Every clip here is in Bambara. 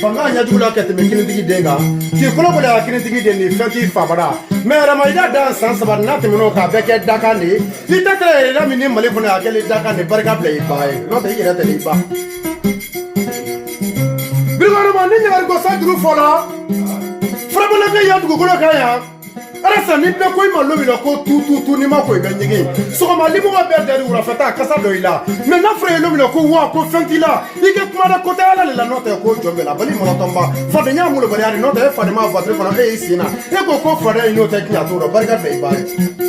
fanga ɲɛjugu la ka tɛmɛ kinitigi den kan k'i kolokolo a kinitigi den ni fɛn t'i fa bara mɛ yɛrɛma i ka dan san saba n'a tɛmɛn'o kan a bɛɛ kɛ dakan de ye i da kɛra yɛrɛ min ni mali kɔnɔ a kɛlen dakan de barika bila i ba ye n'o tɛ i yɛrɛ tɛ i ba birikɔrɔba ni ɲagari ko san juru fɔla farabana kɛ yan dugukolo kan yan arasa ni bɛɛ ko i ma lomina ko tututu ni ma ko i bɛ ɲɛgɛn sɔgɔma limɔgɔ bɛɛ dari wulafɛ ta a kasa dɔ i la mɛ n'a fɔra ye lomina ko wa ko fɛn t'i la i kɛ kuma da kota ala de la n'o tɛ ko jɔn b'ala bali mɔlɔtɔnba fadenya molobaliya de n'o tɛ e fadema fatiri fana e y'i sen na e ko ko fadenya ye n'o tɛ tiɲɛ t'o dɔn barika da i ba ye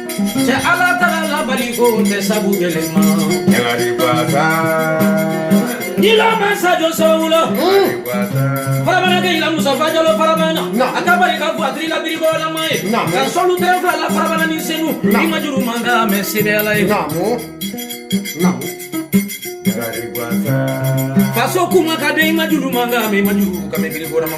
cɛ ala taga labali ko tɛ sabu yɛlɛma ɲagari basa yila mansa jɔ sɔwula farabana ke yila musa fajalo farabana a ka barika fɔ a tiri labiri bɔlama ye ka sɔlu tɛrɛ fila la farabana ni senu i ma juru man ka mɛ sebe ala ye faso kuma ka di i ma juru man ka mɛ i ma juru ka mɛ biri bɔlama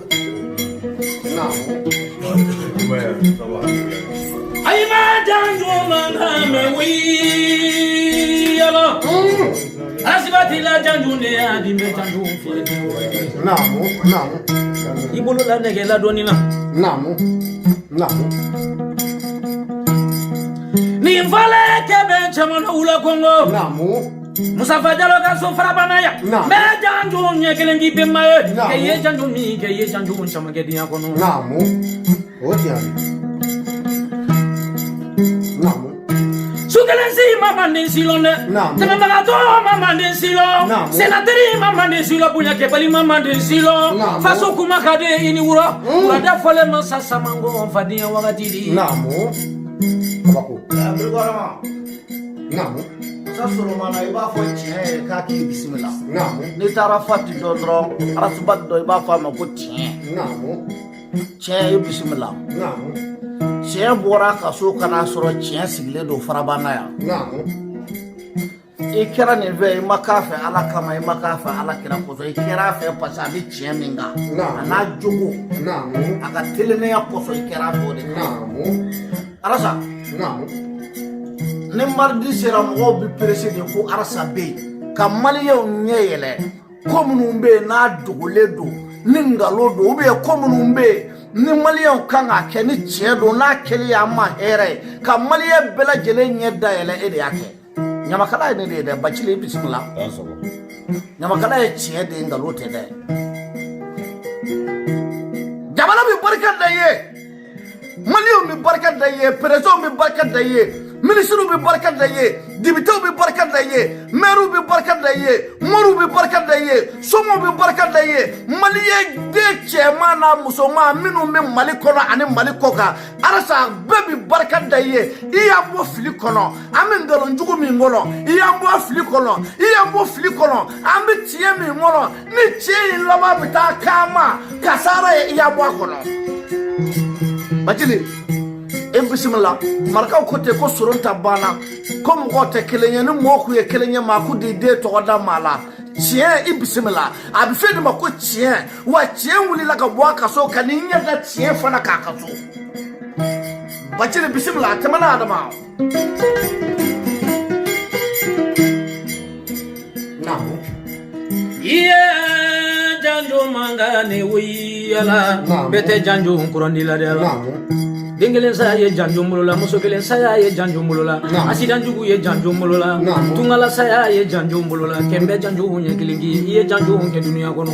ay ma jango man hame wi yalo asibati la jango ne adi me jango fi namu namu ibolo la nege la doni na namu namu ni vale kebe chamana ula kongo namu Musafa Jalo ka so farabana yan n bɛ janjo ɲɛ kelen k'i bɛnba ye kɛ ye janjo min kɛ ye janjo caman kɛ diɲɛ kɔnɔ o jaabi su kelen si ma manden si lɔn dɛ tɛmɛbagatɔ ma manden si lɔn sennateli ma manden si lɔn bonyakɛbali ma manden si lɔn faso kuma ka di i ni wula laada fɔlen ma sa samango fadenyɛ wagati di naamu sa sɔrɔ mana i b'a fɔ tiɲɛ ye k'a k'i bisimila naamu n'i taara fati dɔ dɔrɔn arasa bati dɔ i b'a fɔ a ma ko tiɲɛ naamu tiɲɛ i bisimila naamu tiɲɛ bɔra a ka so ka n'a sɔrɔ tiɲɛ sigilen don farabana yan naamu i kɛra nin fɛ i ma k'a fɛ ala kama i ma k'a fɛ ala kira kosɔn i kɛra a fɛ parce que a bɛ tiɲɛ min kan Naamu. a n'a jogo naamu a ka telennenya kosɔn i kɛra a fɛ o de kan naamu arasa ni maridi sera mɔgɔw bɛ perese de ko arasa bɛ yen ka maliyɛnw ɲɛ yɛlɛ ko minnu bɛ yen n'a dogolen don ni nkalon don ubiyɛn ko minnu bɛ yen ni maliyɛnw kan k'a kɛ ni tiɲɛ don n'a kɛli y'an ma hɛrɛ ye ka maliyɛn bɛɛ lajɛlen ɲɛ dayɛlɛ e de y'a kɛ ɲamakala ye ne de ye dɛ bacili i bisimila ɲamakala ye tiɲɛ de ye nkalon tɛ dɛ jamana bɛ barika da ye maliyɛnw bɛ barika da ye perezidanw bɛ barika da ye minisiriw bɛ barika da ye depitew bɛ barika da ye mɛriw bɛ barika da ye moriw bɛ barika da ye somaw bɛ barika da ye maliyɛn den cɛman n'a musoman minnu bɛ mali kɔnɔ ani mali kɔ kan arasa bɛɛ bɛ barika da ye i y'an bɔ fili kɔnɔ an bɛ nkalon jugu min kɔnɔ i y'an bɔ fili kɔnɔ i y'an bɔ fili kɔnɔ an bɛ tiɲɛ min kɔnɔ ni tiɲɛ in laban bɛ taa k'an ma kasara ye i y'an bɔ a kɔnɔ bacili i bisimila marakaw ko ten ko soron ta banna ko mɔgɔw tɛ kelen ye ni mɔgɔ kun ye kelen ye maa kun t'i den tɔgɔ da maa la tiɲɛ i bisimila a bɛ f'e de ma ko tiɲɛ wa tiɲɛ wulila ka bɔ a ka so ka n'i ɲɛ da tiɲɛ fana k'a ka so bacili bisimila a tɛmɛna adama ni wuli yala bɛɛ tɛ janjo kurandi la dɛ den kelen saya ye janjo bolola muso kelen saya ye janjo bolola asidan jugu ye janjo bolola tunga la saya ye janjo bolola kɛmɛ bɛɛ janjo ɲɛ kelen k'i i ye janjo kɛ dunuya kɔnɔ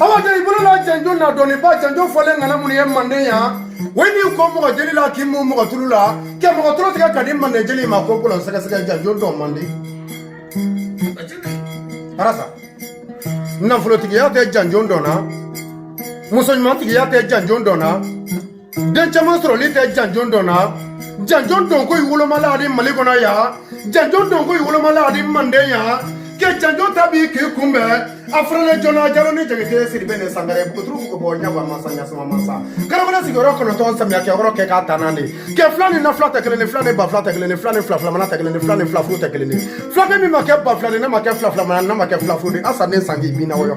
awa tɛ i bolo la janjo na dɔnniba janjo fɔlen ŋana minnu ye manden yan o ye n'i ko mɔgɔ jeli la k'i mu mɔgɔ tulu la kɛ mɔgɔ tulo tigɛ ka di manden jeli ma ko bolon sɛgɛsɛgɛ janjo dɔn man di arasa nafolotigiya tɛ janjo dɔn na muso ɲumantigiya tɛ janjo dɔn na den caman sɔrɔli tɛ janjon dɔn na janjon dɔn ko i wolomala ani mali kɔnɔ yan janjon dɔn ko i wolomala ani manden yan kɛ janjon ta b'i k'i kunbɛn a fɔrɔlen joona jalo ni jakite sidibe ni sangare buturu ko bɔ ɲawa masa ɲasuma masa karamɔgɔ sigiyɔrɔ kɔnɔntɔn samiya kɛyɔrɔ kɛ k'a ta n'an de kɛ fila ni na fila tɛ kelen ni fila ni ba fila tɛ kelen ni fila ni fila filamana tɛ kelen ni fila ni fila furu tɛ kelen ni filakɛ min ma kɛ ba fila ni ne ma kɛ fila filamana ne ma kɛ fila furu de asa ne sanji bi na wɔyɔ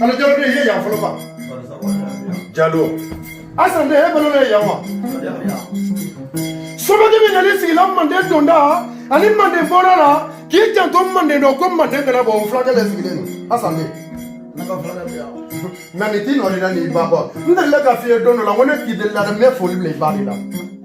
Ala jalo ne ye yan fɔlɔ ba jalo asa ne ye balo ne ye yan wa somadi min nali sigila manden donda ani manden bɔda la k'i janto manden dɔ ko manden kana bɔ o filakɛ le sigilen don asa ne nka nin t'i nɔ de la n'i ba kɔ n delila ka f'i ye don dɔ la ko ne k'i delila dɛ n bɛ foli bila i ba de la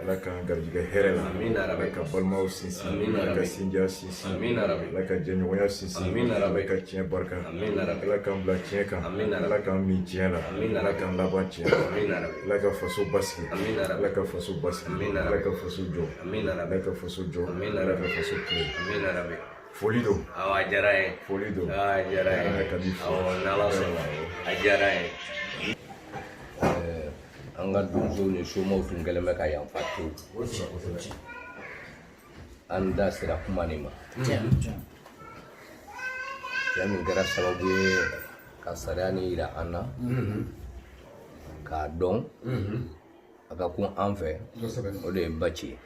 ala k'an garijɛgɛ hɛrɛ la ala ka balimaw sinsin ala ka sinjiya sinsin ala ka jɛɲɔgɔnya sinsin ala ka tiɲɛ barika ala k'an bila tiɲɛ kan ala k'an mɛɛn tiɲɛ la ala k'an laban tiɲɛ ala ka faso basigi ala ka faso basigi ala ka faso jɔ ala ka faso jɔ ala ka faso kile foli don a diyara ye foli don a diyara ye ka di fo n'ala sɔnna a diyara ye an ka donsow ni somaw tun kɛlen bɛ ka yanfa to an da sera kuma nin ma cɛ min kɛra sababu ye ka sariya nin yira an na k'a dɔn a ka kun an fɛ o de ye baci ye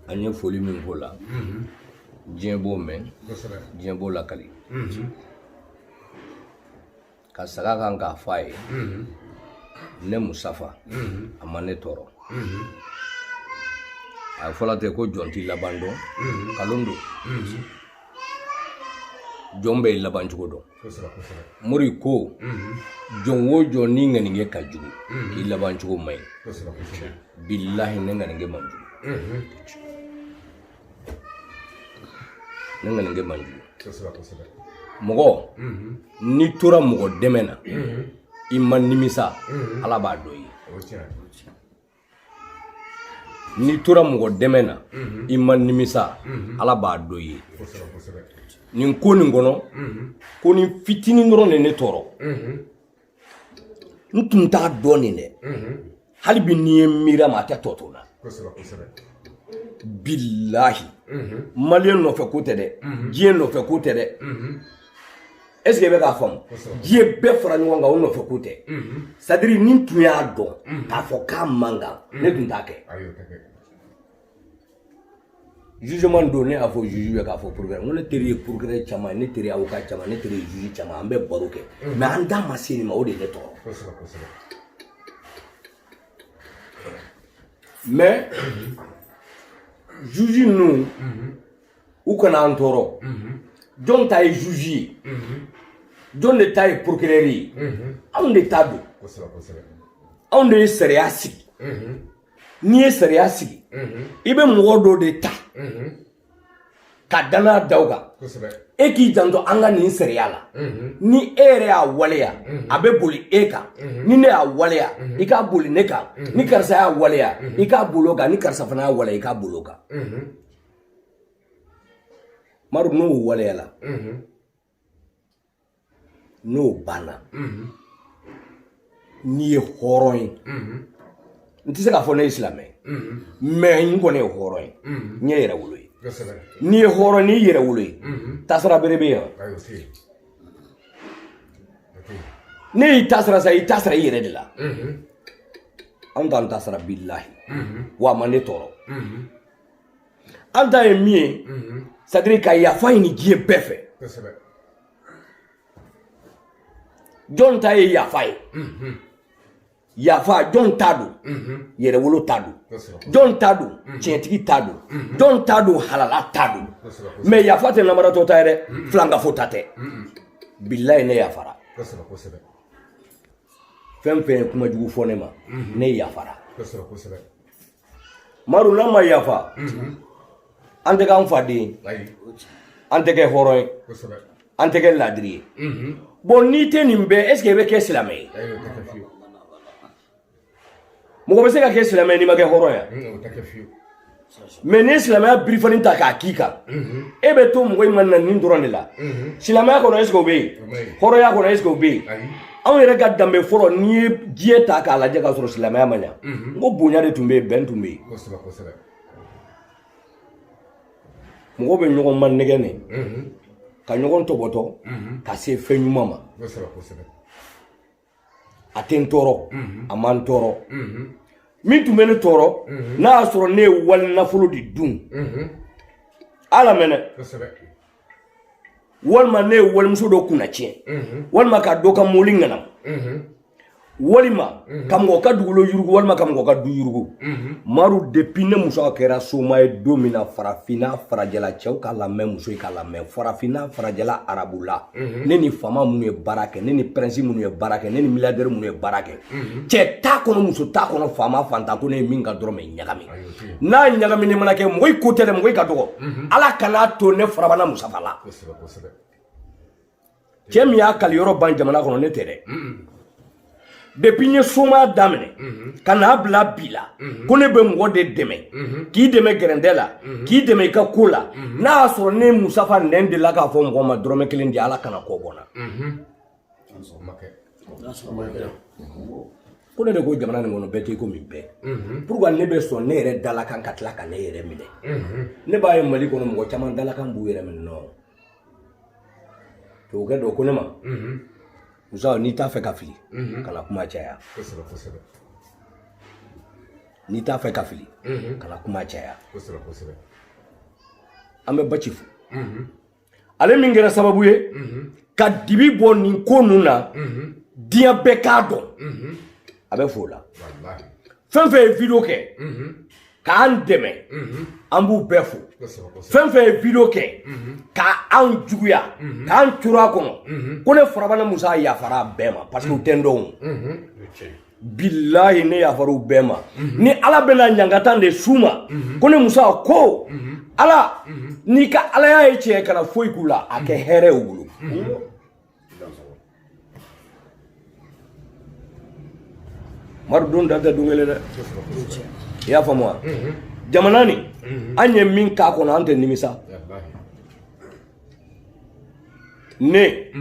an ye foli min k'o la diɲɛ b'o mɛn diɲɛ b'o lakali ka saga kan k'a fɔ a ye ne musafa a ma ne tɔɔrɔ a ye fɔla tɛ ko jɔn t'i laban dɔn kalon don jɔn bɛ i laban cogo dɔn mori ko jɔn o jɔn n'i ŋaninkɛ ka jugu k'i laban cogo man ɲi bilahi ne ŋaninkɛ man jugu ne ŋaninkɛ man jugu kosɛbɛ kosɛbɛ mɔgɔ n'i tora mɔgɔ dɛmɛ na i ma nimisa ala b'a dɔn i ye o tiɲɛ n'i tora mɔgɔ dɛmɛ na i ma nimisa ala b'a dɔn i ye kosɛbɛ kosɛbɛ nin ko nin kɔnɔ ko nin fitinin dɔrɔn de ne tɔɔrɔ n tun t'a dɔn nin dɛ hali bi n'i ye miiri a ma a tɛ tɔ to n na bilahi maliyɛn nɔfɛ ko tɛ dɛ diɲɛ nɔfɛ ko tɛ dɛ est ce que i bɛ k'a faamu diɲɛ bɛɛ fara ɲɔgɔn kan o nɔfɛ ko tɛ c'est à dire ni n tun y'a dɔn k'a fɔ k'a man kan ne tun t'a kɛ jugement don ne y'a fɔ juge bɛ k'a fɔ procureur ko ne teri ye procureur caman ne teri avocat caman ne teri ye juge caman an bɛ baro kɛ mais an da ma se nin ma o de ye ne tɔɔrɔ mais juge ninnu u kana an tɔɔrɔ jɔn ta ye juge ye jɔn de ta ye procureur ye anw de ta don anw de ye sariya sigi n'i ye sariya sigi i bɛ mɔgɔ dɔw de ta ka danaya da u kan e k'i janto an ka nin sariya la ni e yɛrɛ y'a waleya a bɛ boli e kan ni ne y'a waleya i k'a boli ne kan ni karisa y'a waleya i k'a boli o kan ni karisa fana y'a waleya i k'a boli o kan madu n'o waleyala n'o banna n'i ye hɔrɔn ye n tɛ se k'a fɔ ne ye silamɛ mais n kɔni ye hɔrɔn ye n ye yɛrɛwolo ye n'i ye hɔrɔn ni yɛrɛwolo ye tasira bere bɛ yan ne y'i tasira sa i tasira i yɛrɛ de la an t'an tasira bilahi wa a ma ne tɔɔrɔ an ta ye min ye c'est à dire ka yafa ɲini diɲɛ bɛɛ fɛ jɔn ta ye yafa ye yafa jɔn ta don yɛrɛwolo ta don jɔn ta don tiɲɛtigi ta don jɔn ta don halala ta don mais yafa tɛ namaratɔ ta ye dɛ filankafo ta tɛ bilahi ne yafara fɛn o fɛn ye kuma jugu fɔ ne ma ne yafara maru n'a ma yafa an tɛ k'an fa den ye an tɛ kɛ hɔrɔn ye an tɛ kɛ laadiri ye bon n'i tɛ nin bɛɛ est ce que i bɛ kɛ silamɛ ye mɔgɔ bɛ se ka kɛ silamɛ n'i ma kɛ hɔrɔn ya mɛ n'i ye silamɛya birifani ta k'a k'i kan e bɛ to mɔgɔ in ma na nin dɔrɔn de la silamɛya kɔnɔ est ce que o bɛ yen hɔrɔnya kɔnɔ est ce que o bɛ yen anw yɛrɛ ka danbe fɔlɔ n'i ye diɲɛ ta k'a lajɛ k'a sɔrɔ silamɛya ma na n ko bonya de tun bɛ yen bɛn tun bɛ yen mɔgɔw bɛ ɲɔgɔn manɛgɛn ka ɲɔgɔn tɔbɔtɔ ka se fɛn ɲuman ma a tɛ n tɔɔrɔ a ma n tɔɔrɔ min tun bɛ ne tɔɔrɔ n'a y'a sɔrɔ ne ye wali nafolo de dun ala mɛnɛ walima ne ye walimuso dɔ kunna tiɲɛ mhm. walima ka dɔ ka mɔli ŋanam mhm. walima mhm. ka mɔgɔ ka dugukolo yurugu walima ka mɔgɔ ka du yurugu maru depuis ne musa kɛra soma ye don min na farafinna farajɛla cɛw ka lamɛn musow ka lamɛn farafinna farajɛla arabula ne ni faama minnu ye baara kɛ ne ni pɛrɛnsi minnu ye baara kɛ ne ni miliyadɛri minnu ye baara kɛ cɛ t'a kɔnɔ muso t'a kɔnɔ faama fantan ko ne ye min ka dɔrɔmɛ ɲagami n'a ɲagaminen mana kɛ mɔgɔ i ko tɛ dɛ mɔgɔ i ka dɔgɔ mhm. ala kana to ne farabana musa fa la cɛ min y'a kali yɔrɔ ban jamana kɔnɔ ne tɛ dɛ mhm. depuis n ye soma daminɛ mhm. ka n'a bila bi la ko ne bɛ mɔgɔ de dɛmɛ k'i dɛmɛ gɛrɛntɛ la k'i dɛmɛ i ka ko la n'a y'a sɔrɔ ne musa fanɛ dela k'a fɔ mɔgɔ ma dɔrɔmɛ kelen di ala kana kɔ bɔ n na ko ne de ko jamana nin kɔnɔ bɛɛ tɛ ko min bɛɛ mhm. pourquoi ne bɛ sɔn ne yɛrɛ dalakan ka tila ka ne yɛrɛ minɛ mhm. ne b'a ye mali kɔnɔ mɔgɔ caman dalakan b'u yɛrɛ minɛ nɔ tubabukɛ dɔ ko ne ma mhm. musa n'i t'a fɛ ka fili kana kuma caya n'i t'a fɛ ka fili kana kuma caya an bɛ baci fo ale min kɛra sababu ye ka dibi bɔ nin ko ninnu na diɲɛ bɛɛ k'a dɔn a bɛ f'o la fɛn fɛn ye video kɛ k'an dɛmɛ an b'u bɛɛ fo fɛn fɛn ye video kɛ ka anw juguya k'an coro a kɔnɔ ko ne farabana musa yafara bɛɛ ma parce que u tɛ n dɔn bilayi ne yafar'u bɛɛ ma mhm. ni ala bɛna ɲangata de s'u ma mhm. ko ne musa ko mhm. ala n'i ka alaya ye tiɲɛ kana foyi k'u la a kɛ hɛrɛ ye u bolo maru don da tɛ don kelen dɛ i y'a faamu wa jamana nin an ye min k'a kɔnɔ an tɛ nimisa ne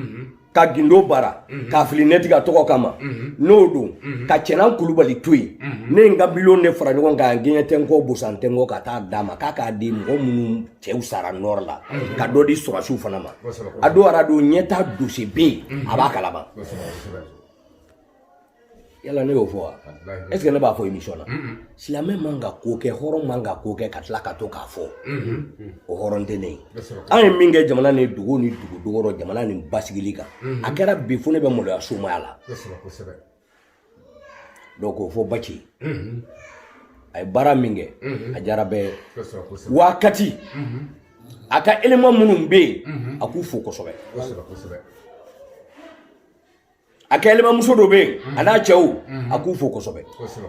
ka gindo baara mhm. k'a fili ne tiga tɔgɔ kama mhm. n'o don mhm. ka cɛna kulubali to yen ne ye n ka miliyɔn de fara ɲɔgɔn kan gɛɲɛ tɛ n kɔ bosan tɛ n kɔ ka taa d'a ma k'a k'a di mɔgɔ minnu cɛw sara nɔrɔ la ka dɔ di sɔrɔdasiw fana ma a don arajo ɲɛta dose bɛ yen a b'a kalama yala ne y'o fɔ wa est ce que ne b'a fɔ émission na silamɛ man ka ko kɛ hɔrɔn man ka ko kɛ ka tila ka to k'a fɔ o hɔrɔn tɛ ne ye an ye min kɛ jamana ni dugu ni dugu dogɔrɔ jamana nin basigili kan a kɛra bi fo ne bɛ maloya somaya la donc k'o fɔ baci a ye baara min kɛ a diyara bɛɛ ye wa kati a ka élément minnu bɛ yen a k'u fo kosɛbɛ a ka élément muso dɔ bɛ yen a n'a cɛw a k'u fo kosɛbɛ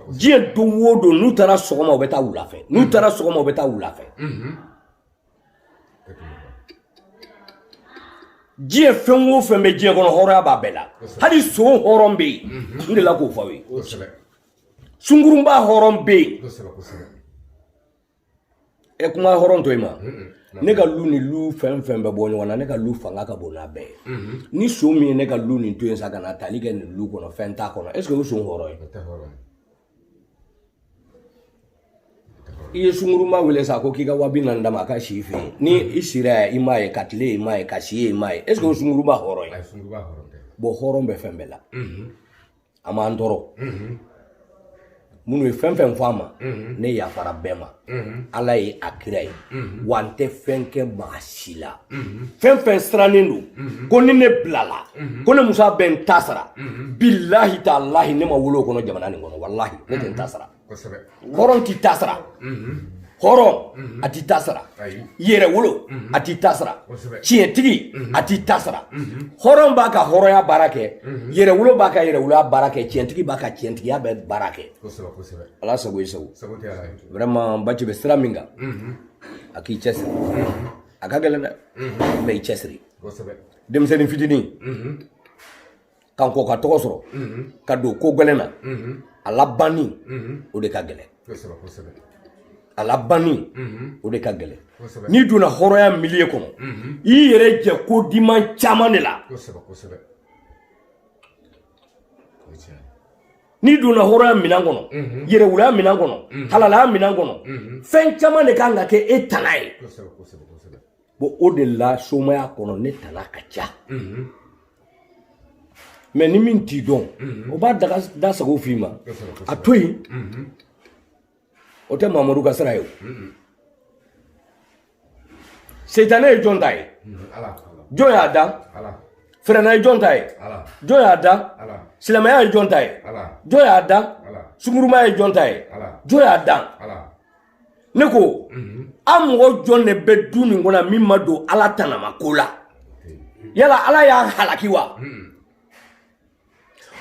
diɲɛ don o don n'u taara sɔgɔma u bɛ taa wula fɛ n'u taara sɔgɔma u bɛ taa wula fɛ diɲɛ fɛn o fɛn bɛ diɲɛ kɔnɔ hɔrɔnya b'a bɛɛ la hali son hɔrɔn bɛ yen n delila k'o fɔ aw ye sunkurunba hɔrɔn bɛ yen ɛ kuma hɔrɔn to i ma ne ka lu ni lu fɛn fɛn bɛ bɔ ɲɔgɔn na ne ka lu fanga ka bon n'a bɛɛ ye ni son min ye ne ka lu nin to yen sa ka na tali kɛ nin lu kɔnɔ fɛn t'a kɔnɔ est ce que o son hɔrɔn ye i ye sunkurunba wele sa ko k'i ka wa bi naani d'a ma a ka si i fɛ yen ni i sira i m'a ye ka tile i m'a ye ka si ye i m'a ye est ce que o sunkurunba hɔrɔn ye bon hɔrɔn bɛ fɛn bɛɛ la a ma n tɔɔrɔ minnu ye fɛn fɛn fɔ a ma ne yafara bɛɛ ma ala ye a kira ye wa n tɛ fɛn kɛ maa si la fɛn fɛn sirannen don ko ni ne bilala ko ne musa bɛ n ta sara bilahi talahi ne ma wolo o kɔnɔ jamana nin kɔnɔ walahi ne tɛ n ta sara kosɛbɛ hɔrɔn t'i ta sara hɔrɔn a t'i ta sara ayi yɛrɛwolo a t'i ta sara Kosɛbɛ. tiɲɛtigi a t'i ta sara hɔrɔn b'a ka hɔrɔnya baara kɛ yɛrɛwolo b'a ka yɛrɛwoloya baara kɛ tiɲɛtigi b'a ka tiɲɛtigiya bɛ baara kɛ kosɛbɛ kosɛbɛ ala sago i sago sago tɛ ala ye vraiment baci bɛ sira min kan a k'i cɛsiri a ka gɛlɛn dɛ mais i cɛsiri kosɛbɛ denmisɛnnin fitinin ka kɔ ka tɔgɔ sɔrɔ ka don ko gɛlɛn na a labanni o de ka gɛlɛn a labanni o de ka gɛlɛn n'i donna hɔrɔnya milieu kɔnɔ i yɛrɛ jɛ ko diman caman de la n'i donna hɔrɔnya minan kɔnɔ yɛrɛwoloya minan kɔnɔ halalaya minan kɔnɔ fɛn caman de ka kan ka kɛ e tana ye bon o de la somaya kɔnɔ ne tana ka ca mɛ ni min t'i dɔn o b'a da sago f'i ma a to yen o tɛ mamadu ka sira ye o seitane ye jɔn ta ye jɔn y'a da firawuna ye jɔn ta ye jɔn y'a da silamɛya ye jɔn ta ye jɔn y'a da sungurunba ye jɔn ta ye jɔn y'a da ne ko mhm. an mɔgɔ jɔn de bɛ du nin kɔnɔ min ma don ala tanama ko la yala ala y'a halaki wa mhm.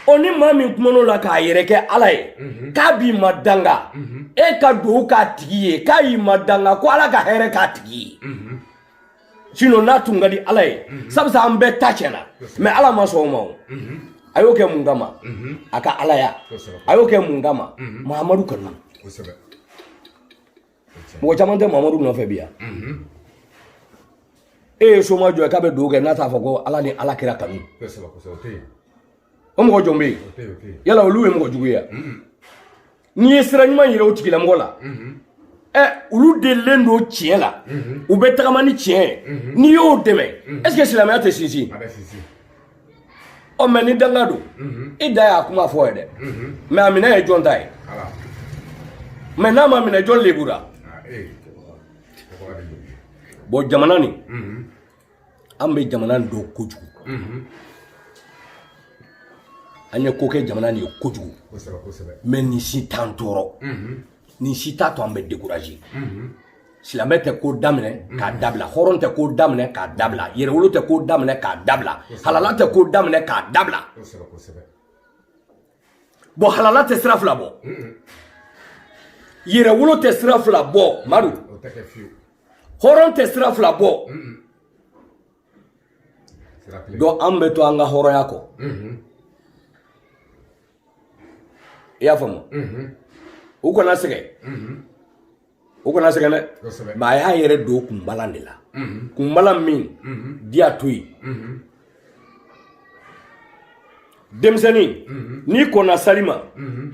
o ni maa min kuman'o la k'a yɛrɛ kɛ ala ye mhm. k'a b'i ma danga e ka dugawu k'a tigi ye k'a y'i ma danga ko ala ka hɛrɛ k'a tigi ye sinon n'a tun ka di ala ye mhm. sabu an bɛɛ ta tiɲɛna mɛ ala ma sɔn o ma o mhm. a y'o kɛ mun kama mhm. a ka alaya a y'o kɛ mun kama mahamadu kanu mɔgɔ caman tɛ mahamadu nɔfɛ bi yan e ye soma jɔn k'a bɛ dugawu kɛ n'a t'a fɔ ko ala ni ala kira kanu o mɔgɔ jɔn bɛ yen yala olu ye mɔgɔ jugu ye n'i ye sira ɲuman yira o tigilamɔgɔ la ɛ olu delilen don tiɲɛ la u bɛ tagama ni tiɲɛ ye n'i y'o dɛmɛ est ce que silamɛya tɛ sinsin ɔ mɛ ni danga don i ta y'a kuma fɔ ye dɛ mɛ a minɛ ye jɔn ta ye mɛ n'a ma minɛ jɔn lebura bɔn jamana nin an bɛ jamana in dɔn kojugu an ye ko kɛ jamana nin ye kojugu mɛ nin si t'an tɔɔrɔ nin si t'a to an bɛ découragé silamɛ tɛ ko daminɛ k'a dabila hɔrɔn tɛ ko daminɛ k'a dabila yɛrɛwolo tɛ ko daminɛ k'a dabila halala tɛ ko daminɛ k'a dabila bɔn halala tɛ sira fila bɔ yɛrɛwolo tɛ sira fila bɔ madu hɔrɔn tɛ sira fila bɔ donc an bɛ to an ka hɔrɔnya kɔ i y'a faamu u kana sɛgɛn o kana sɛgɛn dɛ mɛ a y'a yɛrɛ don kunbalan de la kunbalan min di a to yen denmisɛnnin n'i kɔnna sali ma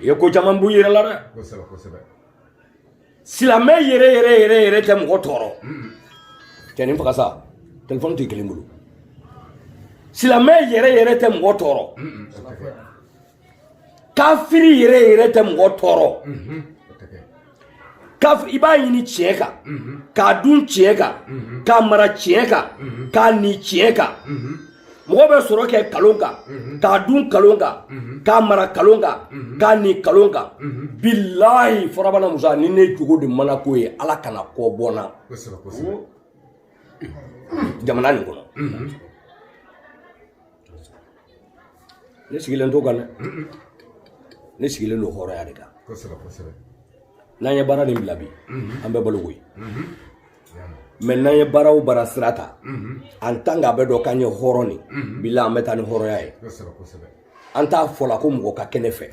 i ye ko caman b'u yɛrɛ la dɛ silamɛ yɛrɛ yɛrɛ yɛrɛ yɛrɛ tɛ mɔgɔ tɔɔrɔ cɛ nin faga sa telefɔni t'i kelen bolo silamɛ yɛrɛ yɛrɛ tɛ mɔgɔ tɔɔrɔ kafiri yɛrɛ yɛrɛ tɛ mɔgɔ tɔɔrɔ kafiri b'a ɲini tiɲɛ kan k'a dun tiɲɛ kan k'a mara tiɲɛ kan k'a ni tiɲɛ kan mɔgɔ bɛ sɔrɔ kɛ kalon kan k'a dun kalon kan k'a mara kalon kan k'a ni kalon kan bilahi farabana musa ni ne jogo de mana ko ye ala kana kɔ bɔ n na jamana nin kɔnɔ ne sigilen t'o kan dɛ ne sigilen don hɔrɔnya de kan kosɛbɛ kosɛbɛ n'an ye baara nin bila bi an bɛ balo koyi mɛ n'an ye baara o baara sira ta an tan k'a bɛ dɔn k'an ye hɔrɔn nin bila an bɛ taa ni hɔrɔnya ye kosɛbɛ kosɛbɛ an t'a fɔla ko mɔgɔ ka kɛ ne fɛ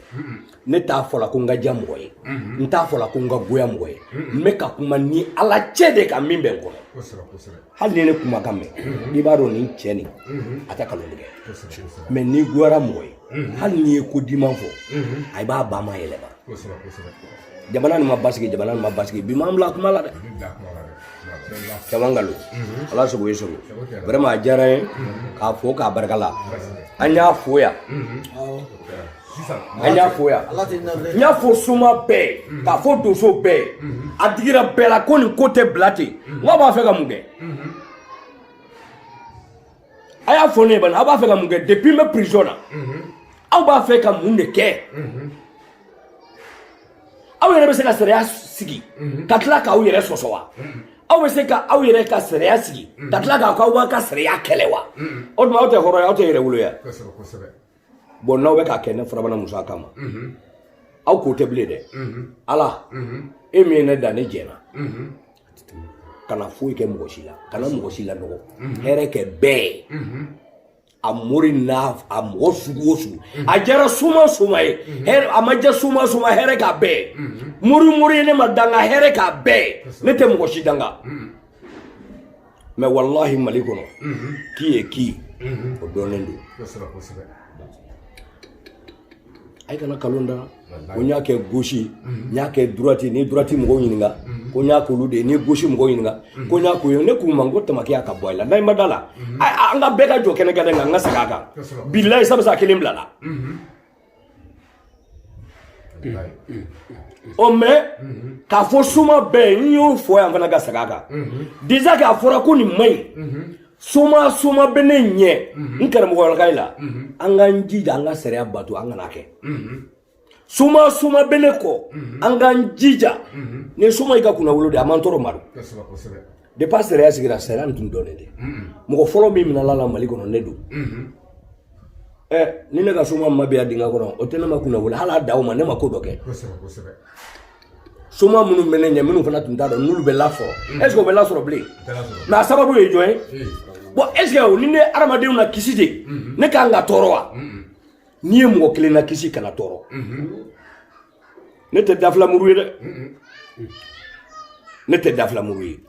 ne t'a fɔla ko n ka diya mɔgɔ ye mhm. n t'a fɔla ko n ka goya mɔgɔ ye mhm. n bɛ ka kuma ni ala cɛ de ka min bɛ n kɔnɔ hali ni ne kumakan mɛn mhm. i b'a dɔn nin cɛ nin a tɛ kalon tigɛ mɛ n'i goyara mɔgɔ ye hali n'i ye ko diman fɔ a i b'a ba ma yɛlɛma jamana nin ma basigi jamana nin ma basigi bi m'an bila kuma la dɛ caman nkalon ala sago i sago vraiment a diyara n ye k'a fo k'a barika la an y'a fo yan an y'a fo yan n y'a fo soma bɛɛ mm-hmm. k'a fo donso bɛɛ mm-hmm. a digira bɛɛ la ko nin ko tɛ bila ten mm-hmm. n k'a b'a fɛ ka mun kɛ a y'a fɔ ne ye bani a b'a fɛ ka mun kɛ depuis n bɛ prison na aw b'a fɛ ka mun de kɛ aw yɛrɛ bɛ se ka sariya sigi ka tila k'aw yɛrɛ sɔsɔ wa aw bɛ se ka aw yɛrɛ ka sariya sigi ka tila k'aw ka sariya kɛlɛ wa o tuma aw tɛ hɔrɔn ye aw tɛ yɛrɛwolo ye. bɔn n'aw bɛ k'a kɛ ne farabana musa kama aw k'o dabila dɛ ala e min ye ne dan ne jɛna kana foyi kɛ mɔgɔ si la kana mɔgɔ si lanɔgɔ hɛrɛ kɛ bɛɛ ye a mori n'a a mɔgɔ sugu o sugu a jɛra soma soma ye hɛrɛ a ma jɛ soma soma hɛrɛ k'a bɛɛ ye mori mori ye ne ma danga hɛrɛ k'a bɛɛ ye ne tɛ mɔgɔ si danga mɛ walahi mali kɔnɔ qui est qui o dɔnnen don a kana kalon da n na ko n y'a kɛ gauche n y'a kɛ droite ni droite mɔgɔw ɲininka ko n y'a k'olu de ye ni gauche mɔgɔw ɲininka ko n y'a k'u ye ne k'u ma n ko tamakiya ka bɔ a la n'an ma d'a la an ka bɛɛ ka jɔ kɛnɛ kelen kan an ka segin a kan bilayi sabisa a kelen bila la o mɛ k'a fɔ soma bɛɛ ye n y'o fɔ yan n fana ka segin a kan disa k'a fɔra ko nin man ɲi soma soma bɛ ne ɲɛ n karamɔgɔlakayi la an k'an jija an ka sariya bato an kana kɛ soma soma bɛ ne kɔ an k'an jija ni soma y'i ka kunnawolo de a ma n tɔɔrɔ ma don depa sariya sigira sariya nin tun dɔnnen de mɔgɔ fɔlɔ min minala la mali kɔnɔ ne don ɛ ni ne ka soma ma bila dingɛ kɔnɔ o tɛ ne ma kunna wele hali a daw ma ne ma ko dɔ kɛ soma minnu bɛ ne ɲɛ minnu fana tun t'a dɔn n'olu bɛ lasɔrɔ est ce que o bɛ lasɔrɔ bilen mɛ a sababu ye jɔn ye bɔn est ce que o ni ne hadamadenw nakisi de ne ka kan ka tɔɔrɔ wa n'i ye mɔgɔ kelen nakisi kana tɔɔrɔ ne tɛ dafilamuru ye dɛ ne tɛ dafilamuru ye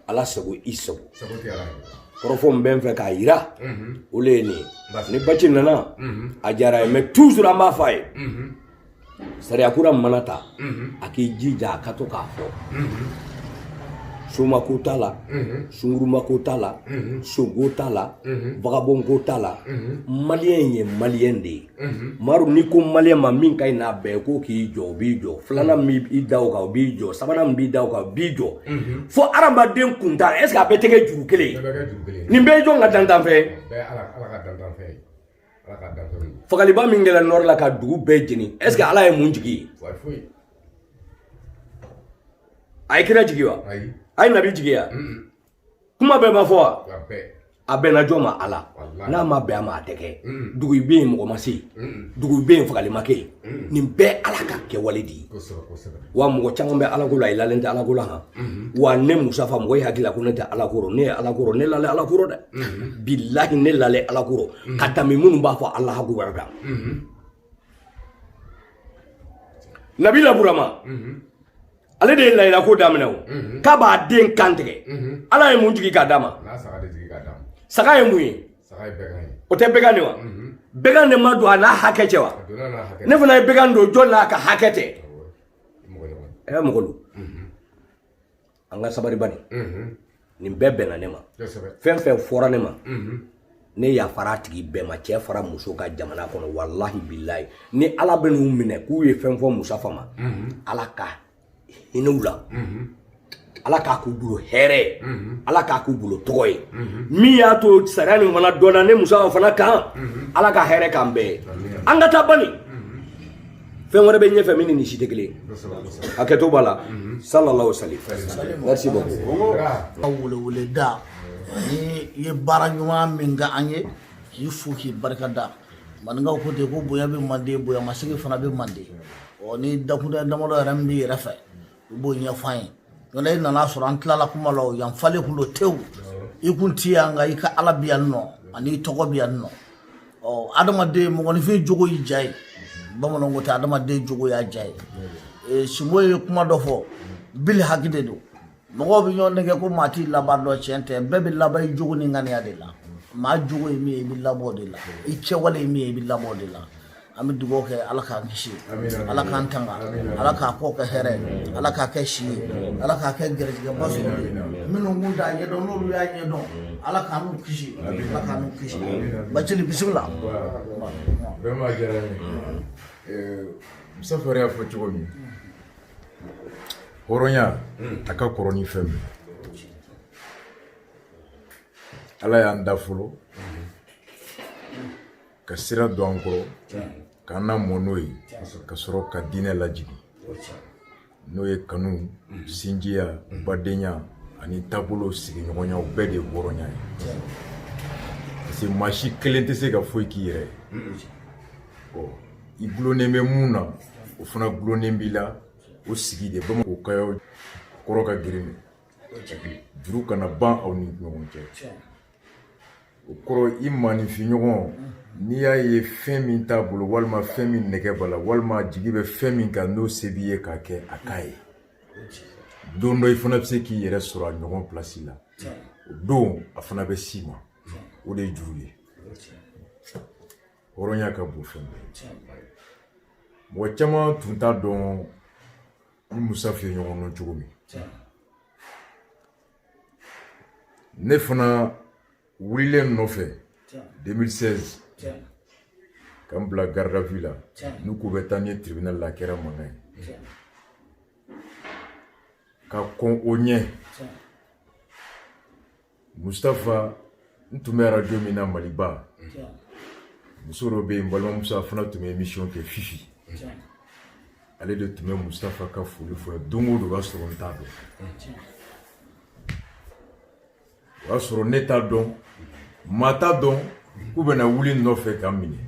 ala sago i sago kɔrɔfɔ min bɛ n fɛ k'a yira o le ye nin ye ni baci nana a diyara ye mɛ toujours an b'a fɔ a ye sariya kura mana ta a k'i jija a ka to k'a fɔ somako t'a la sungurumako t'a la sonko t'a la vagabonko t'a la maliyɛn ye maliyɛn de ye Mhm. maru n'i ko maliyɛn ma min ka ɲi n'a bɛɛ ye k'o k'i jɔ o b'i jɔ filanan mhm. min b'i da o kan o b'i jɔ sabanan min b'i da o kan o b'i jɔ mhm. fo hadamaden kun tan est ce que a bɛɛ tɛ kɛ juru kelen ye nin bɛɛ ye jɔn ka danfɛn ye fagaliba min kɛra nɔri la ka dugu bɛɛ jeni est ce que ala ye mun jigi yen a ye kira jigi wa a ye nabi jigi wa kuma bɛɛ ma fɔ wa a bɛnna jɔn ma ala n'a ma bɛn a ma a tɛ kɛ mm. dugu i bɛ yen mɔgɔ ma se yen mm. dugu i bɛ yen fagali ma kɛ yen mm. nin bɛɛ ala ka kɛwale de ye wa mɔgɔ caman bɛ alako la i lalen tɛ alako la han mm-hmm. wa ne musafa mɔgɔ y'i hakili la ko ne tɛ alako rɔ ne ye alako rɔ ne lalen alako rɔ dɛ mm-hmm. bilahi ne lalen alako rɔ mm-hmm. ka tɛmɛ minnu b'a fɔ alahu akibaru kan nabila burama ale de ye layiya ko daminɛ o k'a b'a den kan tigɛ ala ye mun jigi k'a d'a ma saga ye mun ye o tɛ bɛgan de wa bɛgan de ma don a n'a hakɛ cɛ wa ne fana ye bɛgan don jɔn n'a ka hakɛ tɛ ɛ mɔgɔlu an ka sabari bani nin bɛɛ bɛnna ne ma fɛn fɛn fɔra ne ma ne yafara a tigi bɛɛ ma cɛ fara muso ka jamana kɔnɔ walahi bilayi ni ala bɛn'u minɛ k'u ye fɛn fɔ musafa ma ala ka hinɛ u la ala k'a k'u bolo hɛrɛ ye ala k'a k'u bolo tɔgɔ ye min y'a to sariya nin fana dɔnna ne musafa fana kan ala ka hɛrɛ k'an bɛɛ ye an ka taa bani fɛn wɛrɛ bɛ ɲɛfɛ min ni nin si tɛ kelen hakɛto b'a la salala o sali merci beaucoup ka weleweleda ni i ye baara ɲuman min kɛ an ye k'i fo k'i barika da maninkaw ko ten ko bonya bɛ manden bonya masegin fana bɛ manden ɔ ni dakun damadɔ yɛrɛ min b'i yɛrɛ fɛ u b'o ɲɛfɔ i ye nka e nan'a sɔrɔ an tilala kuma la yan falen kun don tewu i kun ti yan nka i ka ala bi yan nɔ ani tɔgɔ bi yan nɔ ɔ adamaden mɔgɔninfin jogo y'i ja ye bamananw ko ten adamaden jogo y'a ja ye e, sinbo ye kuma dɔ fɔ bili haki de don mɔgɔw bɛ ɲɔgɔn nɛgɛn ko maa t'i laban dɔn tiɲɛ tɛ bɛɛ bɛ laban i jogo ni ŋaniya de la maa jogo ye min ye i bɛ laban o de la i kɛwale ye min ye i bɛ laban o de la an bɛ dugawu kɛ ala k'an kisi ala k'an tanga ala k'a kɔ kɛ hɛrɛ ala k'a kɛ si ye ala k'a kɛ gɛrɛjɛgɛba sɔrɔ ye minnu kun t'a ɲɛdɔn n'olu y'a ɲɛdɔn ala k'an n'u kisi ala k'an n'u kisi bacili bisimila vraiment a diyara n ye musafa yɛrɛ y'a fɔ cogo min hɔrɔnya a ka kɔrɔ ni fɛn min ala y'an da fɔlɔ ka sira don an kɔrɔ k'an lamɔ n'o ye ka sɔrɔ ka diinɛ lajigin n'o ye kanu sinjiya badenya ani taabolo sigiɲɔgɔnya o bɛɛ de ye hɔrɔnya ye parce que maa si kelen tɛ se ka foyi k'i yɛrɛ ye i gulonnen bɛ min na o fana gulonnen b'i la o sigi de bamako kayaw kɔrɔ ka girin juru kana ban aw ni ɲɔgɔn cɛ o kɔrɔ i maaninfinɲɔgɔn n'i y'a ye fɛn min t'a bolo walima fɛn min nɛgɛ b'a la walima jigi bɛ fɛn min kan n'o se b'i ye k'a kɛ a k'a ye don dɔ i fana bɛ se k'i yɛrɛ sɔrɔ a ɲɔgɔn pilasi la o don a fana bɛ s'i ma o de ye juru ye hɔrɔnya ka bon fɛn bɛɛ mɔgɔ caman tun t'a dɔn n ni musafa ye ɲɔgɔn dɔn cogo min ne fana wulilen n nɔfɛ 2016 ka n bila garde à vue la n'u k'u bɛ taa ni n ye tribunal la a kɛra mankan ye ka kɔn o ɲɛ mustafa n tun bɛ arajo min na maliba muso dɔ bɛ yen balimamuso a fana tun bɛ émission kɛ fifi ale de tun bɛ musafa ka foli fɔ don o don o b'a sɔrɔ n t'a dɔn o y'a sɔrɔ ne t'a dɔn maa t'a dɔn k'u bɛna wuli n nɔfɛ ka n minɛ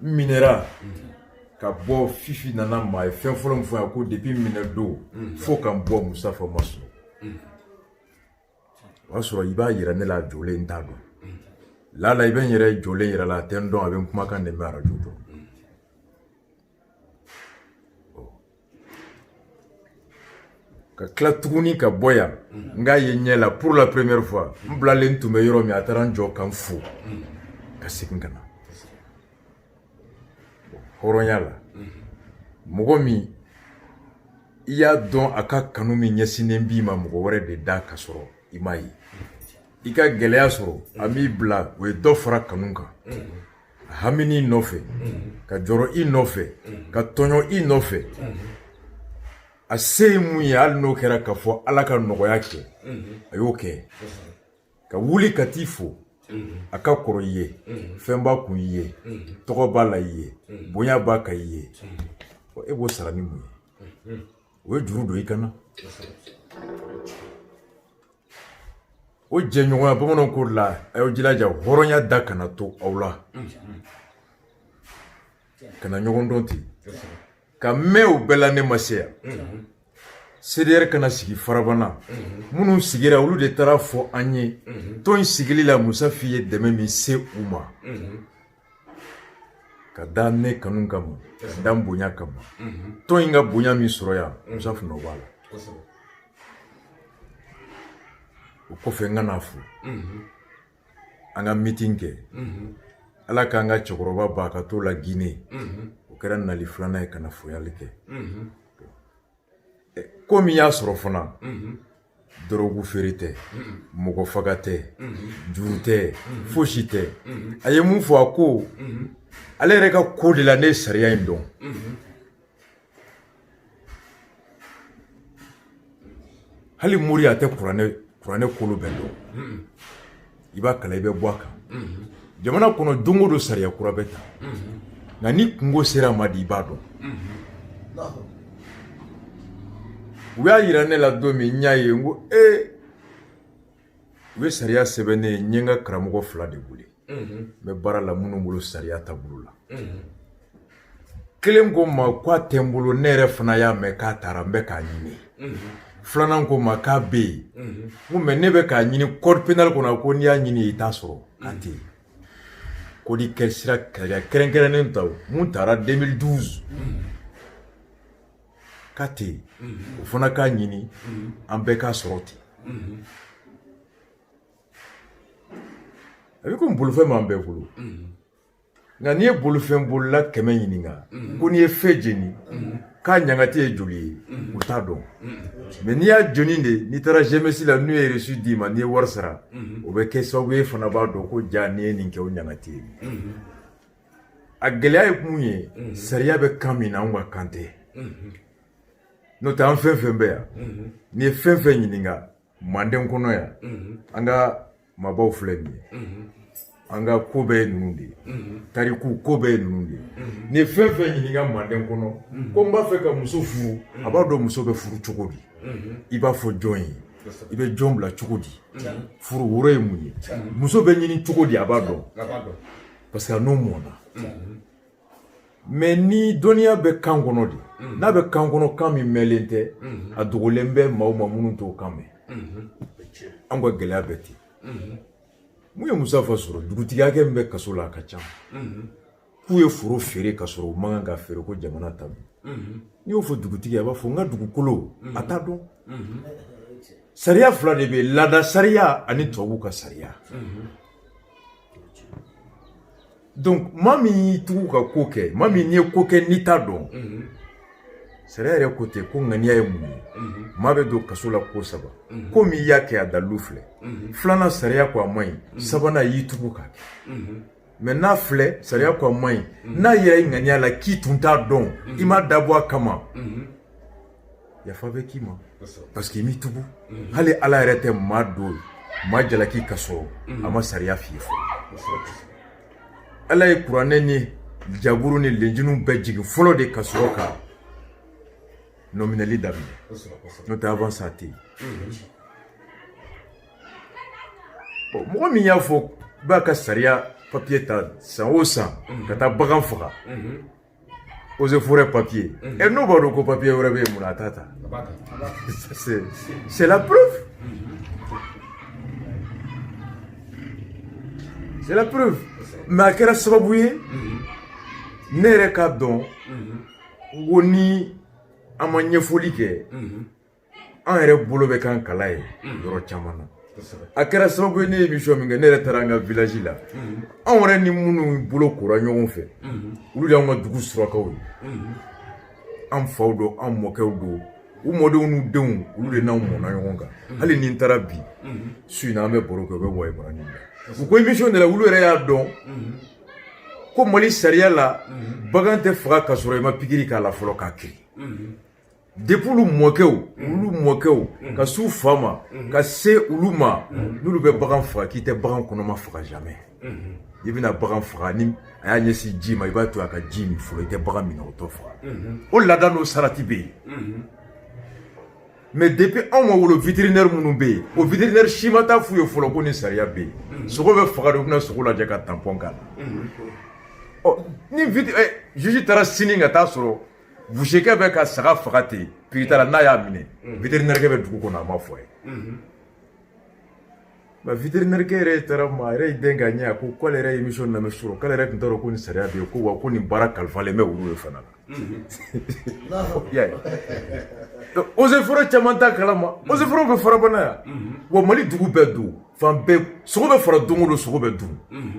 n minɛra ka bɔ fifi nana n ma a ye fɛn fɔlɔ min fɔ yan ko depuis n minɛ don fo ka n bɔ musafa ma sunɔgɔ o y'a sɔrɔ i b'a yira ne la a jɔlen n t'a dɔn lala i bɛ n yɛrɛ jɔlen yir'a la a tɛ n dɔn a bɛ n kumakan de mɛn arajo dɔrɔn ka tila tuguni ka bɔ yan n k'a ye ɲɛ la pour la première fois n bilalen tun bɛ yɔrɔ min a taara n jɔ ka n fo ka segin ka na hɔrɔnya la mɔgɔ min i y'a dɔn a ka kanu min ɲɛsinnen b'i ma mɔgɔ wɛrɛ de da ka sɔrɔ i m'a ye i ka gɛlɛya sɔrɔ a m'i bila o ye dɔ fara kanu kan hami i nɔfɛ ka jɔrɔ i nɔfɛ ka tɔɲɔ i nɔfɛ a se ye mun ye hali n'o kɛra ka fɔ ala ka nɔgɔya kɛ a y'o kɛ ka wuli ka t'i fo a ka kɔrɔ i ye fɛn b'a kun i ye tɔgɔ b'a la i ye bonya b'a kan i ye e b'o sara ni mun ye o ye juru don i kana o jɛɲɔgɔnya bamananw ko la a y'aw jilaja hɔrɔnya da kana to aw la kana ɲɔgɔn dɔn ten ka mɛn o bɛɛ la ne ma se yan CDR ka na sigi farabana minnu sigira olu de taara a fɔ an ye tɔn in sigili la Musa Fi ye dɛmɛ min se u ma ka da ne kanu kama ka da n bonya kama tɔn in ka bonya min sɔrɔ yan Musa Fi nɔ b'a la o kɔfɛ n ka na fo an ka mitin kɛ ala k'an ka cɛkɔrɔba ba ka to la gine o kɛra nali filanan ye ka na foli kɛ ko min y'a sɔrɔ fana dɔrɔgu feere tɛ mɔgɔ faga tɛ juru tɛ fosi tɛ a ye mun fɔ a ko ale yɛrɛ ka ko de la ne ye sariya in dɔn hali mori a tɛ kuranɛ kuranɛ kolo bɛɛ dɔn i b'a kalan i bɛ bɔ a kan jamana kɔnɔ don o don sariya kura bɛ ta nka ni kunko sera a ma de i b'a dɔn u y'a yira ne la don min n y'a ye n ko ee u ye sariya sɛbɛn ne ye n ye n ka karamɔgɔ fila de wele n bɛ baara la minnu bolo sariya taabolo la kelen ko n ma k'a tɛ n bolo ne yɛrɛ fana y'a mɛn k'a taara n bɛ k'a ɲini filanan ko n ma k'a bɛ yen n ko mais ne bɛ k'a ɲini code pénal kɔnɔ ko n'i y'a ɲini i t'a sɔrɔ k'a tɛ yen ko ni kɛ sira kɛlɛkɛ kɛrɛnkɛrɛnnen ta min taara 2012 k'a tɛ yen o fana k'a ɲini an bɛɛ k'a sɔrɔ ten a bɛ komi bolofɛn b'an bɛɛ bolo nka n'i ye bolifɛn bolila kɛmɛ ɲininka ko n'i ye feu jeni k'a ɲangati ye joli ye u t'a dɔn mɛ n'i y'a jeni de n'i taara jemesi la n'u ye resu d'i ma n'i ye wari sara o bɛ kɛ sababu ye fana b'a dɔn ko ja n'i ye nin kɛ o ɲangati ye a gɛlɛya ye mun ye sariya bɛ kan min na anw ka kan tɛ n'o tɛ an fɛn fɛn bɛ yan n'i ye fɛn fɛn ɲininka manden kɔnɔ yan an ka maabaw filɛ nin ye an ka ko bɛɛ ye ninnu de ye tariku ko bɛɛ ye ninnu de ye n'i ye fɛn fɛn ɲininka manden kɔnɔ ko n b'a fɛ ka muso furu a b'a dɔn muso bɛ furu cogo di i b'a fɔ jɔn ye i bɛ jɔn bila cogo di furu woro ye mun ye muso bɛ ɲini cogo di a b'a dɔn parce que a n'o mɔna mɛ ni dɔnniya bɛ kan kɔnɔ de mm-hmm. n'a bɛ kan kɔnɔ kan min mɛnlen tɛ mm-hmm. a dogolen bɛ maaw ma minnu t'o kan mɛn mm-hmm. an ka gɛlɛya bɛ ten mun ye musa fa sɔrɔ dugutigi hakɛ min bɛ kaso la a ka ca k'u ye foro feere ka sɔrɔ u man kan ka feere ko jamana ta don n'i y'o fɔ dugutigi a b'a fɔ n ka dugukolo a t'a dɔn sariya fila de bɛ laada sariya ani tubabuw ka sariya donc maa min y'i tugu ka ko kɛ maa min ye ko kɛ n'i t'a dɔn sariya yɛrɛ ko ten ko ŋaniya ye mun ye maa bɛ don kaso la ko saba komi i y'a kɛ a dalilu filɛ filanan sariya ko a man ɲi sabanan y'i tugu k'a kɛ mɛ n'a filɛ sariya ko a man ɲi n'a yira i ŋaniya la k'i tun t'a dɔn i m'a dabɔ a kama yafa bɛ k'i ma parce que i m'i tugu mhm. hali ala yɛrɛ tɛ maa don maa jalaki ka sɔrɔ mhm. a ma sariya f'i ye fɔlɔ ala ye kuranɛ ni jaburu ni lenjili bɛɛ jigin fɔlɔ de ka sɔrɔ ka nɔminɛli daminɛ n'o tɛ avant ça tɛ yen mhm. mɔgɔ min y'a fɔ b'a ka sariya papiye ta san o san ka taa bagan faga eaux et forêts papier mm-hmm. e n'o b'a dɔn ko papier wɛrɛ bɛ yen munna a t'a ta c'est la preuve c'est la preuve mais a kɛra sababu ye ne yɛrɛ k'a dɔn ko ni an ma ɲɛfɔli kɛ an yɛrɛ bolo bɛ kan kala ye yɔrɔ caman na a kɛra sababu ye ne ye émission min kɛ ne yɛrɛ taara an ka village la anw yɛrɛ ni minnu bolokora ɲɔgɔn fɛ olu de y'an ka dugu surakaw ye an faw don an mɔkɛw don u mɔdenw n'u denw olu de n'anw mɔna ɲɔgɔn kan hali ni n taara bi su in na an bɛ baro kɛ u bɛ waye baara ɲini u ko émission de la olu yɛrɛ y'a dɔn ko mali sariya la bagan tɛ faga ka sɔrɔ i ma pikiri k'a la fɔlɔ k'a kirin depi olu mɔkɛw olu mɔkɛw ka s'u fa ma ka se olu ma n'olu bɛ bagan faga k'i tɛ bagan kɔnɔma faga jamais i bɛna bagan faga ni a y'a ɲɛsin ji ma i b'a to a ka ji min fɔlɔ i tɛ bagan minnɔgɔtɔ faga o laada n'o sarati bɛ yen mɛ depi anw ma wolo viterinɛri minnu bɛ yen o viterinɛri si ma taa f'u ye fɔlɔ ko nin sariya bɛ yen sogo bɛ faga de u bɛ na sogo lajɛ ka tanpɔn k'a la ɔ ni juge taara sini ka taa sɔrɔ busekɛ bɛ ka saga faga ten pikitala n'a y'a minɛ viterinɛrikɛ bɛ dugu kɔnɔ a ma fɔ a ye nka viterinɛrikɛ yɛrɛ taara ma a yɛrɛ ye den ka ɲɛ a ko k'ale yɛrɛ ye émission lamɛn sɔrɔ k'ale yɛrɛ tun t'a dɔn ko nin sariya bɛ yen ko wa ko nin baara kalifalen bɛ olu de fana la i y'a ye donc eaux et forêts caman t'a kalama eaux et forêts bɛ farabana yan wa mali dugu bɛɛ don fan bɛɛ sogo bɛ faga don o don sogo bɛ dun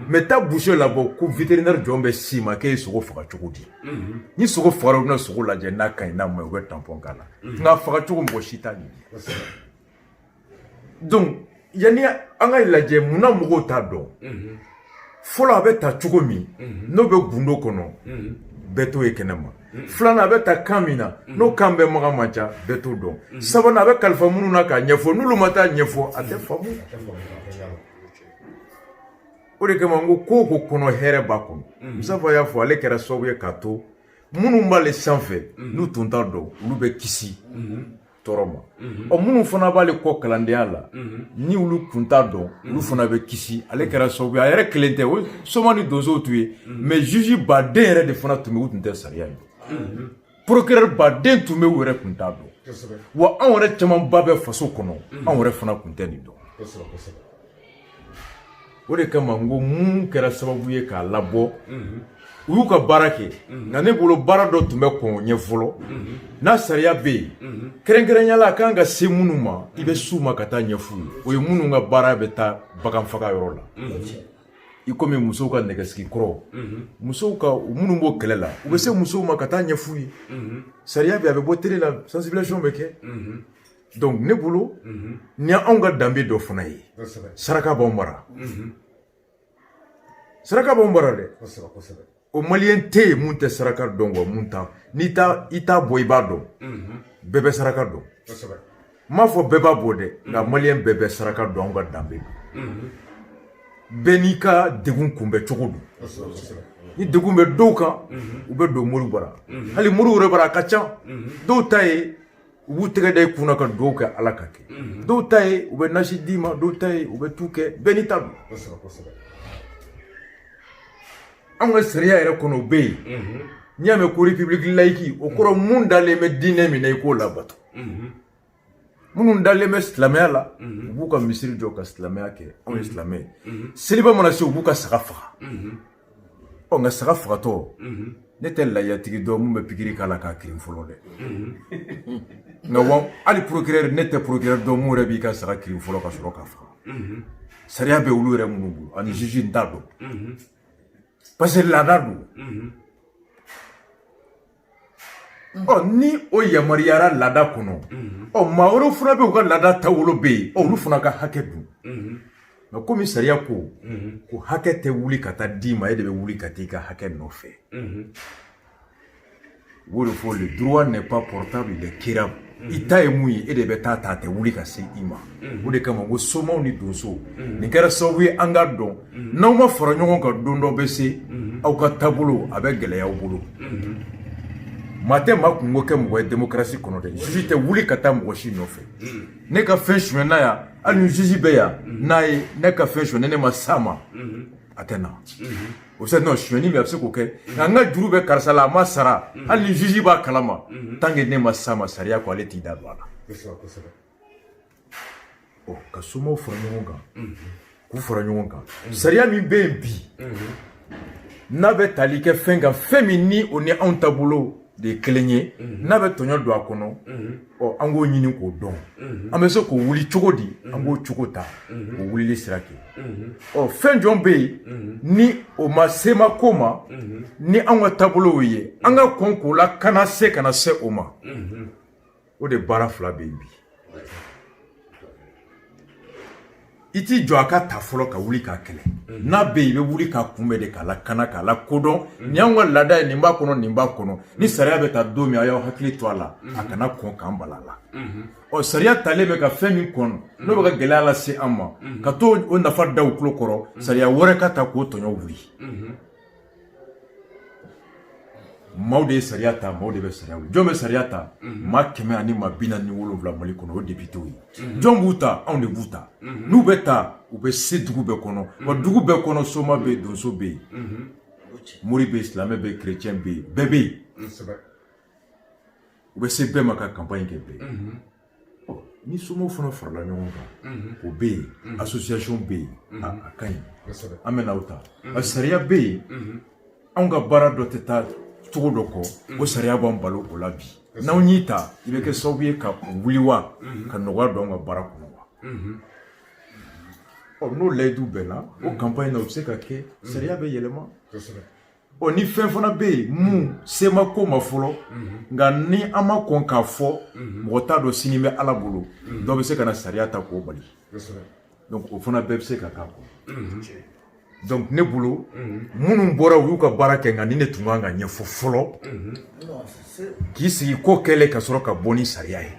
mɛ taa burusi la bɔ ko viterinɛri jɔn bɛ s'i ma k'e ye sogo faga cogo di ni sogo fagara u bɛ na sogo lajɛ n'a ka ɲi n'a ma u bɛ tanpɔn k'a la nka faga cogo mɔgɔ si t'a ɲini donc yanni an ka lajɛ munna mɔgɔw t'a dɔn fɔlɔ a bɛ ta cogo min n'o bɛ gundo kɔnɔ bɛɛ t'o ye kɛnɛ ma filanan a bɛ ta kan min na n'o kan mɛnbaga man ca bɛɛ t'o dɔn sabanan a bɛ kalifa minnu na k'a ɲɛfɔ n'olu ma taa ɲɛfɔ a tɛ faamu o de kama n ko ko o ko kɔnɔ hɛrɛ b'a kɔnɔ musafa y'a fɔ ale kɛra sababu ye k'a to minnu b'ale sanfɛ n'u tun t'a dɔn olu bɛ kisi tɔɔrɔ ma mhm. ɔ minnu fana b'ale kɔ kalandenya la mhm. ni olu kun t'a dɔn mhm. olu fana bɛ kisi ale kɛra sababu ye a yɛrɛ kelen tɛ o soma ni donsow tun ye mɛ juge baden yɛrɛ de fana tun bɛ u tun tɛ sariya ye procureur baden tun bɛ u yɛrɛ tun t'a dɔn wa anw yɛrɛ camanba bɛ faso kɔnɔ anw yɛrɛ fana tun tɛ nin dɔn o de kama n ko mun kɛra sababu ye k'a labɔ u y'u ka baara kɛ nka ne bolo baara dɔ tun bɛ kɔn o ɲɛ fɔlɔ ni sariya bɛ yen kɛrɛnkɛrɛnya la a kan ka se minnu ma i bɛ s'u ma ka taa ɲɛf'u ye o ye minnu ka baara bɛ taa bagan faga yɔrɔ la i komi musow ka nɛgɛsigi kɔrɔ musow ka minnu b'o kɛlɛ la u bɛ se musow ma ka taa ɲɛf'u ye sariya bɛ a bɛ bɔ tele la sensibilisation bɛ kɛ donc ne bolo mhm. ni anw ka danbe dɔ fana ye saraka b'anw bara mhm. saraka b'anw bara dɛ o maliyɛn tɛ yen mun tɛ saraka dɔn wa mun t'a n'i t'a i t'a bɔ i b'a dɔn mhm. bɛɛ bɛ saraka dɔn n m'a fɔ bɛɛ b'a bɔ dɛ nka maliyɛn bɛɛ bɛ saraka dɔn anw ka danbe don bɛɛ n'i ka degun kunbɛn cogo don ni degun bɛ dɔw kan u bɛ don moriw bara hali moriw yɛrɛ bara a ka ca dɔw ta ye u b'u tɛgɛ da i kun na ka dugawu kɛ ala ka kɛ mhm. dɔw ta ye u bɛ nasi d'i ma dɔw ta ye u bɛ tu kɛ bɛɛ n'i ta don anw ka sariya yɛrɛ kɔnɔ o bɛ yen mhm. n'i y'a mɛn ko repibuliki layiki o kɔrɔ mun mhm. dalen bɛ diinɛ min na i k'o labato minnu dalen bɛ silamɛya la u b'u ka misiri jɔ ka silamɛya kɛ anw ye silamɛ ye seliba mana se u b'u ka saga faga ɔ nka saga fagatɔ ne tɛ layatigi dɔn mun bɛ pikiri k'a la k'a kirin fɔlɔ dɛ nka wa hali procureur ne tɛ procureur dɔn mun yɛrɛ b'i ka saga kirin fɔlɔ ka sɔrɔ k'a faga sariya bɛ olu yɛrɛ minnu bolo ani juge n t'a dɔn parce que laada don ɔ ni o yamaruyara laada kɔnɔ ɔ maa wɛrɛw fana bɛ yen u ka laada taabolo bɛ yen olu fana ka hakɛ dun nka komi sariya ko ko hakɛ tɛ wuli ka taa d'i ma e de bɛ wuli ka taa i ka hakɛ nɔfɛ o de fɔ le droit n'est pas portable il est quérable i ta ye mun ye e de bɛ taa a ta a tɛ wuli ka se i ma o de kama ko somaw ni donsow nin kɛra sababu ye an k'a dɔn n'aw ma fara ɲɔgɔn kan don dɔ bɛ se aw ka taabolo a bɛ gɛlɛya aw bolo maa tɛ maa kunko kɛ mɔgɔ ye demokarasi kɔnɔ dɛ juge tɛ wuli ka taa mɔgɔ si nɔfɛ ne ka fɛn suɲɛna yan hali ni juge bɛ yan n'a ye ne ka fɛn suɲɛ ni ne ma s'a ma a tɛ na o sɛ non suɲɛni bɛ a bɛ se k'o kɛ nka n ka juru bɛ karisa la a ma sara hali ni juge b'a kalama tant que ne ma s'a ma sariya ko ale t'i da don a la ɔ ka somaw fara ɲɔgɔn kan k'u fara ɲɔgɔn kan sariya min bɛ yen bi n'a bɛ tali kɛ fɛn kan fɛn min ni o ni anw taabolo de ye kelen ye mhm. n'a bɛ tɔɲɔ don a kɔnɔ mhm. ɔ an k'o ɲini k'o dɔn mhm. an bɛ se k'o wuli cogo di an k'o cogo ta k'o wulili sira kɛ ɔ fɛn jɔn bɛ yen ni o ma sema ko ma ni an ka taabolow ye an ka kɔn k'o lakana se kana se o ma o de baara fila bɛ yen bi i t'i jɔ a ka ta fɔlɔ ka wuli k'a kɛlɛ mhm. n'a bɛ i bɛ wuli k'a kunbɛn de k'a lakana k'a lakodɔn mhm. nin y'anw ka laada ye nin b'a kɔnɔ nin b'a kɔnɔ ni sariya bɛ ta don min a y'aw hakili to a la mhm. a kana kɔn k'an bala la ɔ sariya talen bɛ ka fɛn min kɔnɔ n'o bɛ ka gɛlɛya lase an ma ka to o nafa da u tulo kɔrɔ sariya wɛrɛ ka ta k'o tɔɲɔ wuli maaw de ye sariya ta maaw de bɛ sariya wuli jɔn bɛ sariya ta mhm. maa kɛmɛ ani maa bi naani ni wolonwula mali kɔnɔ o depitew ye mhm. jɔn b'u ta anw de b'u ta mhm. n'u bɛ ta u bɛ se dugu bɛɛ kɔnɔ wa dugu bɛɛ kɔnɔ soma bɛ yen donso bɛ yen mori bɛ yen silamɛ bɛ yen kerecɛn bɛ yen bɛɛ bɛ yen u bɛ se bɛɛ ma ka kanpaɲi kɛ bɛɛ ye ni somaw fana farala ɲɔgɔn kan o bɛ yen association bɛ yen a ka ɲi an bɛ n'aw ta nka sariya bɛ yen anw ka baara dɔ tɛ taa cogo dɔ kɔ o sariya b'an bali o la bi n'aw y'i ta i bɛ kɛ sababu ye ka wuli wa ka nɔgɔya don an ka baara kɔnɔ wa ɔ n'o layidu bɛnna o kanpaɲi na o bɛ se ka kɛ sariya bɛ yɛlɛma ɔ ni fɛn fana bɛ yen mun se ma ko ma fɔlɔ nka ni an ma kɔn k'a fɔ mɔgɔ t'a dɔn sini bɛ ala bolo dɔ bɛ se ka na sariya ta k'o bali donc o fana bɛɛ bɛ se ka k'a kɔnɔ donc ne bolo minnu bɔra u y'u ka baara kɛ nka nin de tun kan ka ɲɛfɔ fɔlɔ k'i sigi ko kɛlɛ ka sɔrɔ ka bɔ ni sariya ye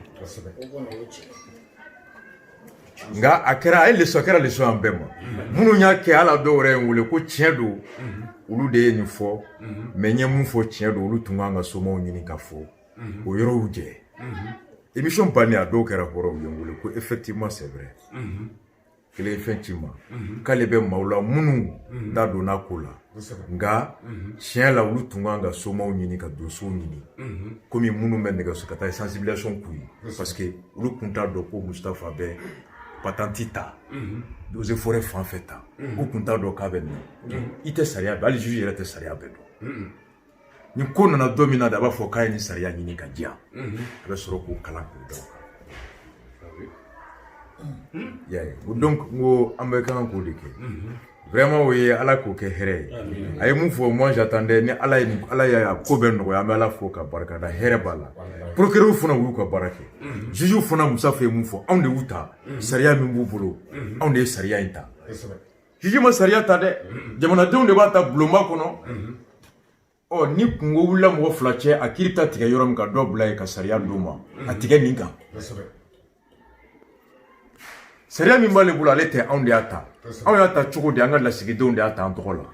nka a kɛra a ye lesɔn a kɛra lesɔn an bɛɛ ma minnu y'a kɛ a la dɔw yɛrɛ ye n wele ko tiɲɛ don olu de ye nin fɔ mɛ n ye mun fɔ tiɲɛ don olu tun kan ka somaw ɲini ka fɔ o yɔrɔw jɛ émission bannen a dɔw kɛra hɔrɔnw ye n wele ko effectivement c'est vrai kelen ye fɛn ci n ma k'ale bɛ maaw la minnu da donna ko la nka tiɲɛ la olu tun kan ka somaw ɲini ka donsow ɲini komi minnu bɛ nɛgɛso ka taa sensibilisation k'u ye parce que olu tun t'a dɔn ko mustafa bɛ patanti ta eaux et forêts fan fɛ ta u tun t'a dɔn k'a bɛ nin i tɛ sariya bɛɛ hali juge yɛrɛ tɛ sariya bɛɛ dɔn ni ko nana don min na de a b'a fɔ k'a ye nin sariya ɲini ka diya a bɛ sɔrɔ k'o kalan k'o dɔn y'a ye o don n ko an bɛɛ kan k'o de kɛ vraiment o ye ala k'o kɛ hɛrɛ ye a ye mun fɔ moi j'attendais ni ala ye nin- ala ye a ko bɛɛ nɔgɔya an bɛ ala fo ka barika da hɛrɛ b'a la procureur fana u y'u ka baara kɛ juge fana mustafa ye mun fɔ anw de y'u ta sariya min b'u bolo anw de ye sariya in ta juge ma sariya ta dɛ jamanadenw de b'a ta bulonba kɔnɔ ɔ ni kunko wulila mɔgɔ fila cɛ a kiri ta tigɛ yɔrɔ min ka dɔ bila yen ka sariya d'u ma a tigɛ nin kan sariya min b'ale bolo ale tɛ anw de y'a ta anw y'a ta cogo di an ka lasigidenw de y'a ta an tɔgɔ la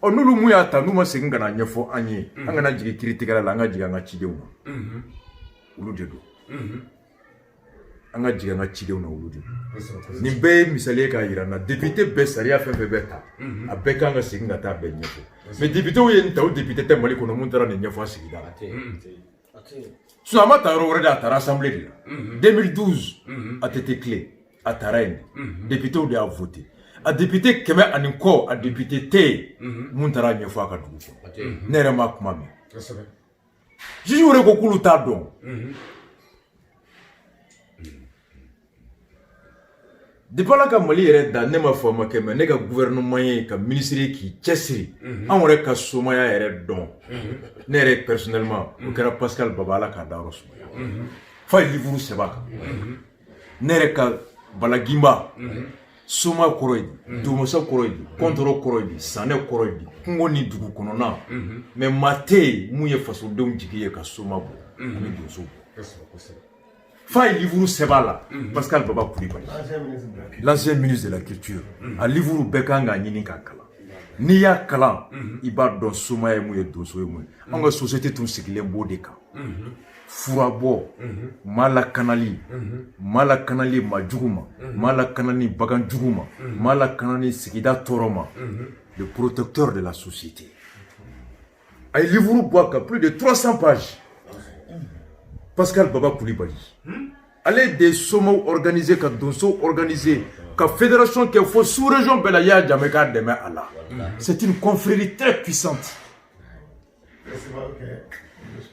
ɔ n'olu mun y'a ta n'u ma segin ka na ɲɛfɔ an ye an kana jigin kiritigɛla la an ka jigin an ka cidenw ma olu de don an ka jigin an ka cidenw na olu de nin bɛɛ ye misali ye k'a yira an na depite bɛ sariya fɛn fɛn bɛɛ ta mhm. a bɛɛ kan ka segin ka taa bɛɛ ɲɛfɔ mɛ depitew ye nin ta o depite tɛ mali kɔnɔ mun taara nin ɲɛfɔ a sigida la mhm. sinon a ma ta yɔrɔ wɛrɛ dɛ a tara asanbile de la 2012 mhm. ATT tile a tara yen de depitew de y'a vote a depite kɛmɛ ani kɔ a depite tɛ yen mun taara ɲɛfɔ a ka dugu kɔnɔ ne yɛrɛ ma kuma mɛn jiji wɛrɛ ko k'olu t'a dɔn depuis ala ka mali yɛrɛ da ne m'a fɔ a ma kɛ mɛ ne ka gouvernement ye ka minisiri k'i cɛsiri an yɛrɛ ka somaya yɛrɛ dɔn ne yɛrɛ personnellement o kɛra pascal baba ala k'a dayɔrɔ sumaya f'a ye livuru sɛbɛn a kan ne yɛrɛ ka bala gimba mhm. soma kɔrɔ ye di mhm. dugumasa kɔrɔ ye di kɔntɔrɔn mhm. kɔrɔ ye di sanɛ kɔrɔ ye di kungo ni dugu kɔnɔna mɛ maa tɛ yen min ye fasodenw jigi ye ka soma bɔ ani donso bɔ f'a ye livuru sɛbɛn la pascal baba kulibali l'ancien ministre de la culture a livuru bɛɛ kan k'a ɲini k'a kalan n'i y'a kalan i b'a dɔn soma ye mun ye donso ye mun ye an ka société tun sigilen b'o de kan furabɔ mhm. maa lakanali mhm. maa lakanali maa jugu ma mhm. maa lakanali bagan jugu ma maa lakanali sigida tɔɔrɔ ma le protecteur de la société a ye livre bɔ a kan plus de 300 pages pascal baba kulibali hmm? ale de ye somaw organisé ka donsow organisé ka fédération kɛ fo sous région bɛɛ la yaya jammeh k'a dɛmɛ a la c'est une confrérie très puissante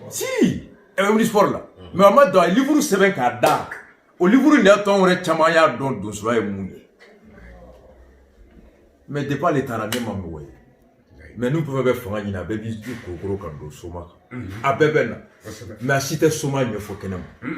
si eh, wuli sport la mɛ a ma dɔn a ye livuru sɛbɛn k'a da o livuru in de y'a to anw yɛrɛ caman y'a dɔn donsoya ye mun ye mɛ depuis ale taara ne ma mɔgɔ ye mɛ n'u bɛɛ bɛ fanga ɲini a bɛɛ b'i tu kokoro ka don soma kan a bɛɛ bɛ na mɛ a si tɛ soma ɲɛfɔ kɛnɛ ma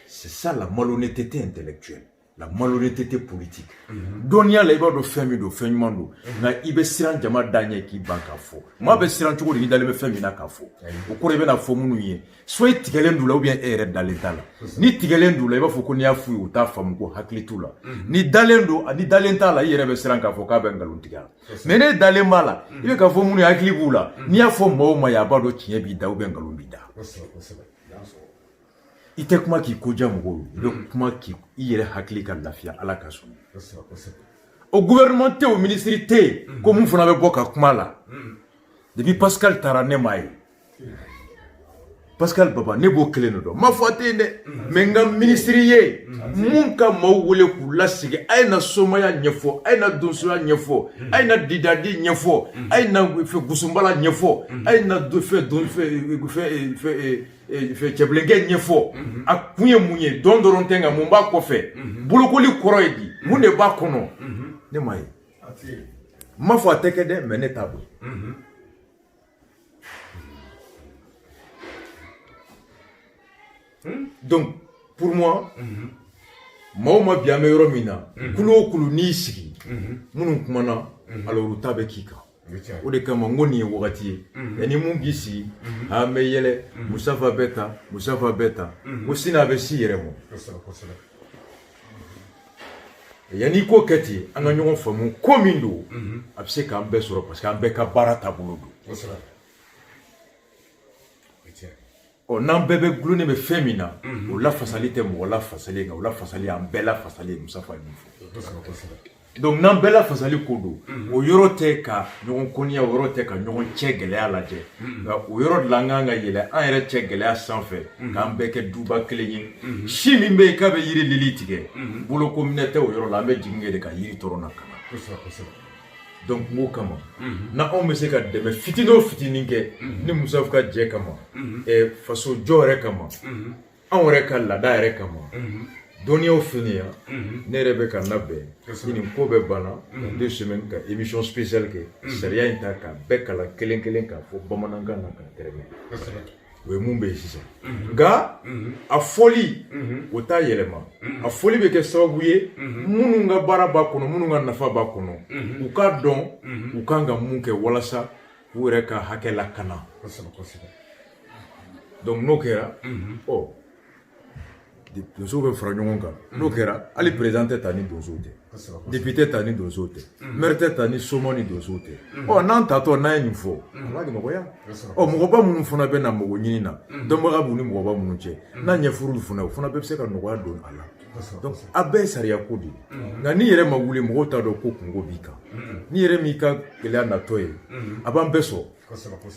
c'est ça la malhonnêteté intellectuelle la malhonnêteté politique mhm. dɔnniya la i b'a dɔn fɛn min don fɛn ɲuman don mhm. nka i bɛ siran jama de ɲɛ k'i ban k'a fɔ maa bɛ siran cogo di i dalen bɛ fɛn min na k'a fɔ o kɔrɔ i bɛna fɔ minnu ye soit i tigɛlen d'u la ou bien e yɛrɛ dalen t'a la n'i tigɛlen d'u la i b'a fɔ ko n'i y'a f'u ye u t'a faamu ko hakili t'u la mhm. n'i dalen don n'i dalen t'a la i yɛrɛ bɛ siran k'a fɔ k'a bɛ nkalon tigɛ la mɛ n'e dalen b'a la i bɛ k'a fɔ minnu ye hakili b'u la n'i y'a fɔ maa o maa ye a b'a dɔn tiɲɛ b'i da ou bien nkalon b'i da i tɛ kuma k'i ko diya mɔgɔw ye i bɛ mm. kuma k'i i yɛrɛ hakili ka lafiya ala ka sɔn o gouvernement tɛ o minisiri tɛ yen mm. ko min fana bɛ bɔ ka kuma la mm. depuis pascal taara ne m'a ye pascal baba ne b'o kelen de dɔn n m'a fɔ a tɛ yen dɛ mɛ n ka minisiri ye min ka maaw wele k'u lasigi a ye na somaya ɲɛfɔ a ye na donsoya ɲɛfɔ a ye na didadi ɲɛfɔ a ye na fɛ gusunbala ɲɛfɔ a ye na fɛ don fɛ fɛ eh, cɛbilenkɛ ɲɛfɔ mhm. a kun ye mun ye dɔn dɔrɔn tɛ nka mun b'a kɔfɛ mhm. bolokoli kɔrɔ ye di mhm. mun de b'a kɔnɔ ne m'a ye n m'a fɔ a tɛ kɛ dɛ mɛ ne t'a dɔn hmm? donc pour moi maa o maa bi an bɛ yɔrɔ min na kulu o kulu n'i sigi minnu kumana alors u ta bɛ k'i kan o de kama n ko nin ye wagati ye mais ni mun k'i sigi an bɛ yɛlɛ musafa bɛ ta musafa bɛ ta ko sini a bɛ s'i yɛrɛ ma yanni ko kɛ ten an ka ɲɔgɔn faamu ko min don a bɛ se k'an bɛɛ sɔrɔ parce que an bɛɛ ka baara taabolo don ɔ n'an bɛɛ bɛ dulonnen bɛ fɛn min na o lafasali tɛ mɔgɔ lafasalen kan o lafasali y'an bɛɛ lafasali ye musafa ye min fɔ donc n'an bɛɛ lafasali ko don o yɔrɔ tɛ ka ɲɔgɔn kɔniya o yɔrɔ tɛ ka ɲɔgɔn cɛ gɛlɛya lajɛ nka o yɔrɔ de la an kan ka yɛlɛ an yɛrɛ cɛ gɛlɛya sanfɛ k'an bɛɛ kɛ duba kelen ye si min bɛ yen k'a bɛ yiri lili tigɛ bolokominɛ tɛ o yɔrɔ la an bɛ jigin kɛ de ka yiri tɔrɔ na ka na donc kungo kama na anw bɛ se ka dɛmɛ fitinin o fitinin kɛ ni musafa ka jɛ kama eh, faso jɔ yɛrɛ kama anw yɛrɛ ka laada yɛrɛ kama dɔnniyaw finiya ne yɛrɛ bɛ ka labɛn ni nin ko bɛɛ banna ka deux semaines ka émission spéciale kɛ sariya in ta k'a bɛɛ kalan kelen kelen k'a fɔ bamanankan na k'a tɛrɛmɛ o ye mun bɛ yen sisan nka a fɔli o t'a yɛlɛma a fɔli bɛ kɛ sababu ye minnu ka baara b'a kɔnɔ minnu ka nafa b'a kɔnɔ u k'a dɔn u kan ka mun kɛ walasa k'u yɛrɛ ka hakɛ lakana kosɛbɛ kosɛbɛ donc n'o kɛra ɔ donso bɛ fara ɲɔgɔn kan n'o kɛra hali perezidan tɛ ta ni donso tɛ depite ta ni donso tɛ mɛri tɛ ta ni soma ni donso tɛ ɔ n'an tatɔ n'an ye nin fɔ a b'a nɔgɔya ɔ mɔgɔba minnu fana bɛ na mɔgɔ ɲini na dɔnbaga minnu ni mɔgɔba minnu cɛ n'a ɲɛfuru fana o fana bɛɛ bɛ se ka nɔgɔya don a la a bɛɛ ye sariya ko de ye nka n'i yɛrɛ ma wuli mɔgɔw t'a dɔn ko kunko b'i kan n'i yɛrɛ m'i ka gɛlɛya natɔ ye a b'an bɛɛ sɔrɔ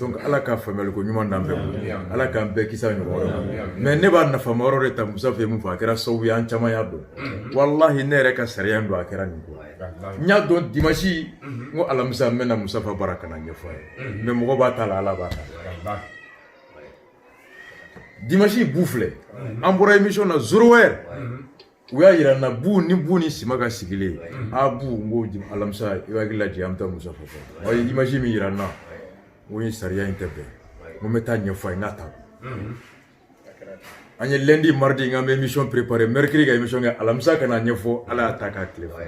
donc ala ka faamuyali ko ɲuman d'an bɛɛ bolo ala k'an bɛɛ kisi ɲɔgɔn tɔɔrɔ ma ne b'a nafama yɔrɔ de ta musafa ye mun fɔ a kɛra sababu ye an caman y'a dɔn mm-hmm. walahi ne yɛrɛ ka sariya dɔn a kɛra nin ko n y'a dɔn dimasi mm-hmm. n ko alamisa n bɛ na musafa bara ka n'a ɲɛfɔ a ye mm-hmm. mais mɔgɔ b'a ta la ala b'a ta dimasi bu filɛ an bɔra émission na zéro heure u y'a yira n na bu ni bu ni sima ka sigilen abu n ko alamisa i b'a hakili lajɛ an bɛ taa musafa fo a ye image min yira n na n ko ye sariya in tɛ bɛn n ko n bɛ taa a ɲɛfɔ a ye n k'a ta an ye lundi mardi n k'an bɛ émission préparé mercredi ka émission kɛ alamisa ka n'a ɲɛfɔ ala y'a ta k'a tile fɔ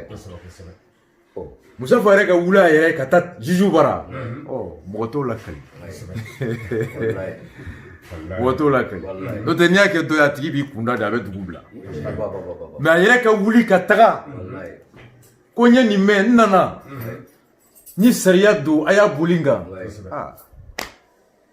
musafa yɛrɛ ka wuli a yɛrɛ ka taa juju bara mɔgɔ t'o lakali mɔgɔ t'o lakali n'o tɛ n'i y'a kɛ dɔ ye a tigi b'i kunda de a bɛ dugu bila mais a yɛrɛ ka wuli ka taga ko n ye nin mɛn n nana ni sariya don a y'a boli n kan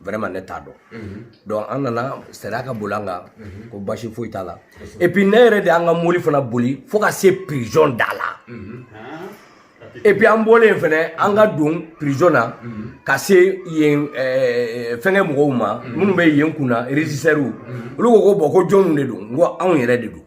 vraiment ne t'a dɔn mhm. donc an nana sariya ka boli an kan mhm. ko basi foyi t'a la et puis ne yɛrɛ de an ka mobili fana boli fo ka se prison da la mhm. et puis an bɔlen fɛnɛ an ka don prison na ka se yen eh, fɛnkɛ mɔgɔw ma minnu bɛ yen kunna régisseurs olu ko ko bon ko jɔnw de don n ko anw yɛrɛ de don